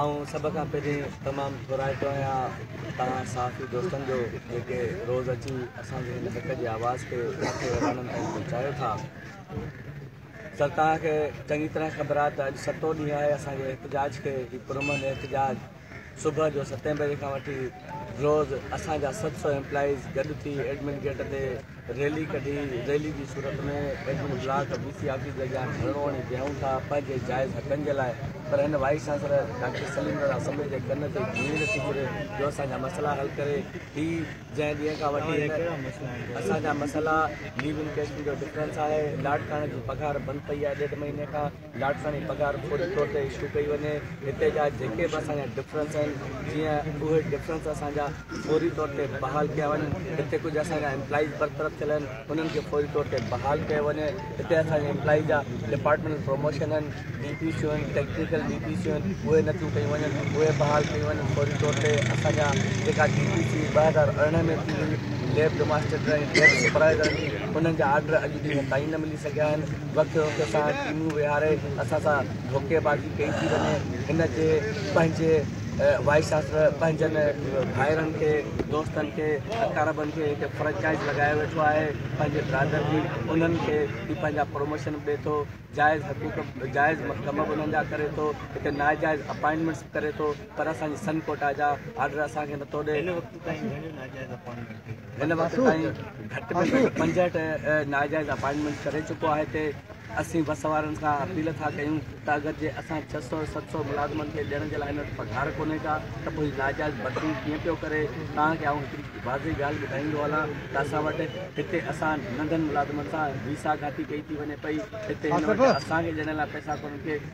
آئون سڀ کان پهرين تمام ٿورائتو آهيان توهان صحافي دوستن جو جيڪي روز اچي اسان جي هن حق جي آواز کي ايوانن تائين پهچايو ٿا سر توهان کي چڱي طرح خبر آهي ته اڄ ستون ڏينهن آهي اسان جي احتجاج کي هي پرامن احتجاج صبح جو ستين بجي کان وٺي روز اسان جا ست سؤ ايمپلائيز گڏ ٿي ايڊمن گيٽ تي ريلي ڪڍي ريلي جي صورت ۾ admin block B C office جي اڳيان ڌرڻو هڻي بيهون ٿا پنهنجي جائز حقن جي لاء پر هن vice chancellor doctor Saleem Raza assembly جي ڪن تي جوئي نٿي گهري جو اسان جا مسئلا حل ڪري هي جنهن ڏينهن کان وٺي هن ڪهڙا مسئلا آهن اسان جا مسئلا ليو انڪيشن جو ڊفرنس آهي لاٽ ڪاڻ جي پگهار بند پئي آهي ڏيڍ مهيني کان لاڙڪاڻي پگهار فوري طور تي اشو ڪئي وڃي هتي جا جيڪي به اسان جا ڊفرنس آهن جيئن اهي ڊفرنس اسان جا فوري طور تي بحال ڪيا وڃن هتي ڪجهه اسان جا امپلائيز برطرف ٿيل آهن انهن کي فوري طور تي بحال ڪيو وڃي هتي اسان جي امپلائيز جا ڊپارٽمينٽل پروموشن آهن ڊي پي سيون آهن ٽيڪنيڪل ڊي پي سيون آهن اهي نٿيون ڪيون وڃن اهي بحال ڪيون وڃن فوري طور تي اسان جا جيڪا ڊي پي سي ٻه هزار ارڙهن ۾ ٿي هئي ليب ڊوماسٽيٽر ۽ ليب سپرائيزر انهن جا آرڊر اڄ ڏينهن تائين نه ملي سگهيا آهن وقت وقت سان چونڊون ويهاري اسان سان ڌوڪي بازي ڪئي ٿي وڃي هن جي پنهنجي وائيس چانسلر پنهنجن ڀائرن کي دوستن کي اقاربن کي هڪ فرنچائز لڳايو ويٺو آهي پنهنجي برادر جي انهن کي هي پنهنجا پروموشن به ڏي ٿو جائز حقوق جائز ڪم به انهن جا ڪري ٿو هڪ ناجائز اپائنٽمينٽس به ڪري ٿو پر اسان جي سن ڪوٽا جا آرڊر اسان کي نٿو ڏي هن وقت تائين گهٽ ۾ گهٽ پنجهٺ ناجائز اپائنٽمينٽ ڪري چڪو آهي تي اسين بس وارن کان اپيل ٿا ڪيون ته اگر جي اسان ڇهه سؤ ست سؤ ملازمن کي ڏيڻ جي لاء هن وٽ پگهار ڪونهي ڪا ته پوء هي ناجائز ڀرتيون ڪيئن پيو ڪري توهان کي آئون هڪڙي واضح ڳالهه ٻڌائيندو هلان ته اسان وٽ هتي اسان ننڍن ملازمن سان ويسا گهاتي ڪئي ٿي وڃي پئي هتي هن وٽ اسان کي ڏيڻ لاء پئسا ڪونهن ڪي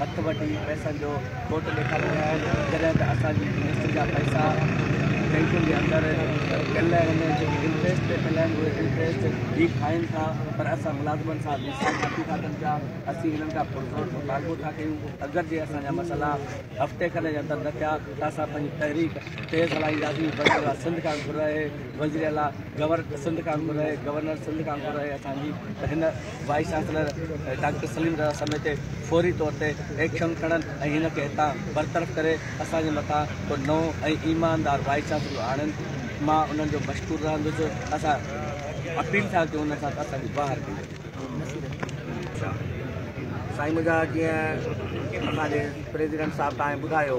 هٿ وٺي پئسن جو کوٽ ڏيکاري رهيا آهن جڏهن ته اسان جي قسط جا پئسا بئنڪن جي اندر پيل آهن جيڪي انٽريسٽ تي پيل آهن اهي انٽريسٽ هي کائين ٿا پر اسان ملازمن سان حساب نٿي ٿا ڪن پيا اسين هنن کان پرزور مطالبو ٿا ڪيون اگر جي اسان جا مسئلا هفتي کن جي اندر نه ٿيا ته اسان پنهنجي تحريڪ تيز هلائينداسين وزيراعليٰ سنڌ کان گهر رهي وزيراعليٰ گور سنڌ کان گهر رهي گورنر سنڌ کان گهر رهي اسان جي ته هن vice chancellor doctor Saleem Raza سميت فوري طور تي ايڪشن کڻن ۽ هن کي هتان برطرف ڪري اسان جي مٿان ڪو نئون ۽ ايماندار وائيس چانسلر آڻين مان انهن جو مشڪور رهندس اسان اپيل ٿا ڪيون انهن سان ته اسان جي باهر ڪيو وڃي. سائين منهنجا جيئن اسان جي پريزيڊنٽ صاحب تائين ٻڌايو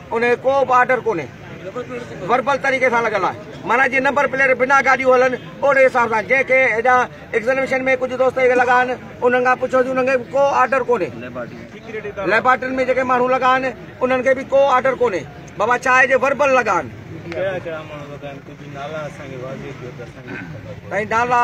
ان کي ڪو به آرڊر ڪونهي وربل طريقي سان لڳل آهي مانا جي نمبر پليٽ بنا گاڏيون هلن اهڙي حساب سان جنهن کي هيڏا ايگزاميشن ۾ ڪجهه دوست اهي لڳا آهن انهن کان پڇو ته انهن کي ڪو آرڊر ڪونهي ليبارٽرين ۾ جيڪي ماڻهو لڳا آهن انهن کي به ڪو آرڊر ڪونهي بابا ڇا آهي جي وربل لڳا آهن نالا